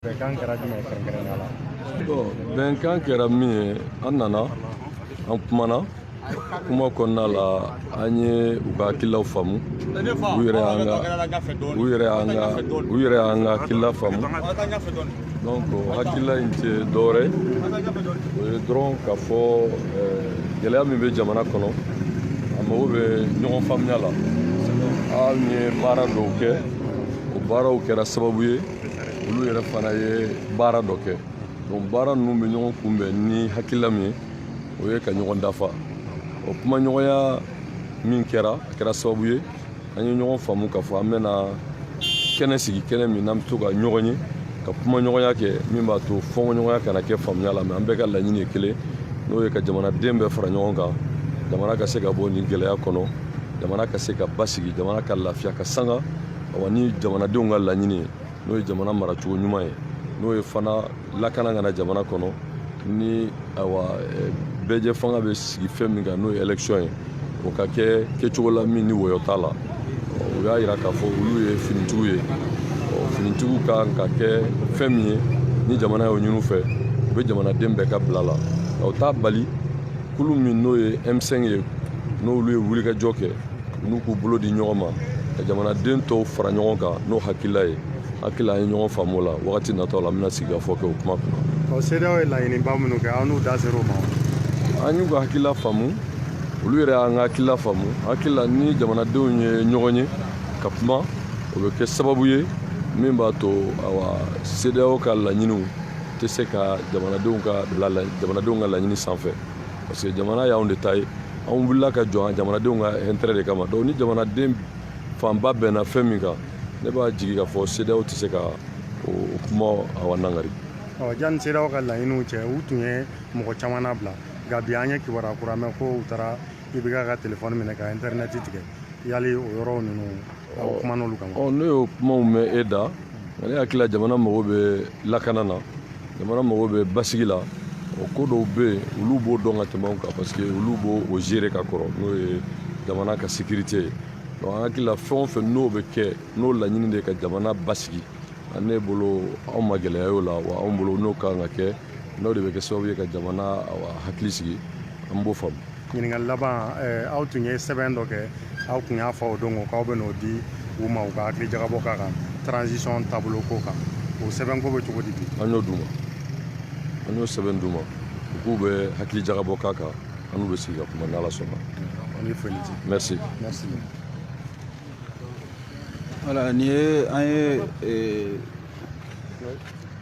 bɛnkan kɛra jumɛn ye kɛrɛnkɛrɛnnenya la bon bɛnkan kɛra min ye an nana an kumana kuma kɔnɔna la an ye u ka hakililaw faamu u yɛrɛ y'an ka u yɛrɛ y'an ka u yɛrɛ y'an ka hakilila faamu donc hakilila in tɛ dɔwɛrɛ o ye dɔrɔn k'a fɔ eh, gɛlɛya min bɛ jamana kɔnɔ a mago bɛ ɲɔgɔn faamuya la an ye baara dɔw kɛ o baaraw kɛra sababu ye olu yɛrɛ fana ye baara dɔ kɛ donc baara ninnu bɛ ɲɔgɔn kunbɛn ni hakilila min ye o ye ka ɲɔgɔn dafa o kumaɲɔgɔnya min kɛra a kɛra sababu ye an ye ɲɔgɔn faamu k'a fɔ an bɛna kɛnɛ sigi kɛnɛ min n'an bɛ to ka ɲɔgɔn ye ka kumaɲɔgɔnya kɛ min b'a to fɔnkɔɲɔgɔnya kana kɛ faamuya la mais an bɛɛ ka laɲini ye kelen n'o ye ka jamanaden bɛɛ fara ɲɔgɔn kan jamana ka se ka bɔ nin gɛlɛya kɔnɔ jamana ka se ka basigi jamana ka lafiya ka sanga awa ni jamanadenw ka laɲini ye n'o ye jamana maracogo ɲuman ye n'o ye fana lakana ka na jamana kɔnɔ ni awa eh, bɛɛjɛ fanga bɛ sigi fɛn min kan n'o ye élection ye o ka kɛ kɛcogo la min ni wɔyɔ t'a la o y'a yira k'a fɔ olu ye finitigiw ye finitigiw ka kan ka kɛ fɛn min ye ni jamana y'o ɲini u fɛ u bɛ jamanaden bɛɛ ka bila la o t'a bali kulu min n'o ye m5 ye n'olu ye wulikajɔ kɛ n'u k'u bolo di ɲɔgɔn ma ka jamanaden tɔw fara ɲɔgɔn kan n'o hakilila ye hakili an ye ɲɔgɔn faamu la wagati nataw la an bɛna sigikafɔ kɛ o kuma kunna ɔ CEDEAO ye laɲiniba minnu kɛ aw n'u da ser'o ma an y'u ka hakilila faamu olu yɛrɛ y'an ka hakilila faamu hakilila ni jamanadenw ye ɲɔgɔn ye ka kuma o bɛ kɛ sababu ye min b'a to awa CEDEAO ka laɲiniw tɛ se ka jamanadenw ka bila jamanadenw ka laɲini sanfɛ parce que jamana y'anw de ta ye anw wulila ka jɔ jamanadenw ka intérêt de kama donc ni jamanaden fanba bɛnna fɛn min kan ne b'a jigi k'a fɔ CEDEAO tɛ se ka o kuma awa nangari ɔ janni CEDEAO ka laɲiniw cɛ u tun ye mɔgɔ caman nabila nka bi an ye kibaruya kura mɛn ko u taara IBK ka telefɔni minɛ ka intɛrinɛti tigɛ yali o yɔrɔw ninnu ne y'o kumaw mɛn e da nka ne hakilila jamana mago bɛ lakana na jamana mago bɛ basigi la o ko dɔw bɛ yen olu b'o dɔn ka tɛmɛ anw kan parce que olu b'o gérer ka kɔrɔ n'o ye jamana ka sécurité ye donc an hakilila fɛn o fɛn n'o bɛ kɛ n'o laɲini de ka jamana basigi ne bolo anw ma gɛlɛya y'o la wa anw bolo n'o ka kan ka kɛ n'o de bɛ kɛ sababu ye ka jamana hakili sigi an b'o faamu ɲininkali laban aw tun ye sɛbɛn dɔ kɛ aw tun y'a fɔ o don ko k'aw bɛ n'o di u ma u ka hakili jagabɔ k'a kan transition taabolo ko kan o sɛbɛn ko bɛ cogo di bi an y'o d'u ma an y'o sɛbɛn d'u ma u k'u bɛ hakili jagabɔ k'a kan an n'u bɛ sigi ka kuma n'ala sɔnna an ye foli di merci merci voilà nin ye an ye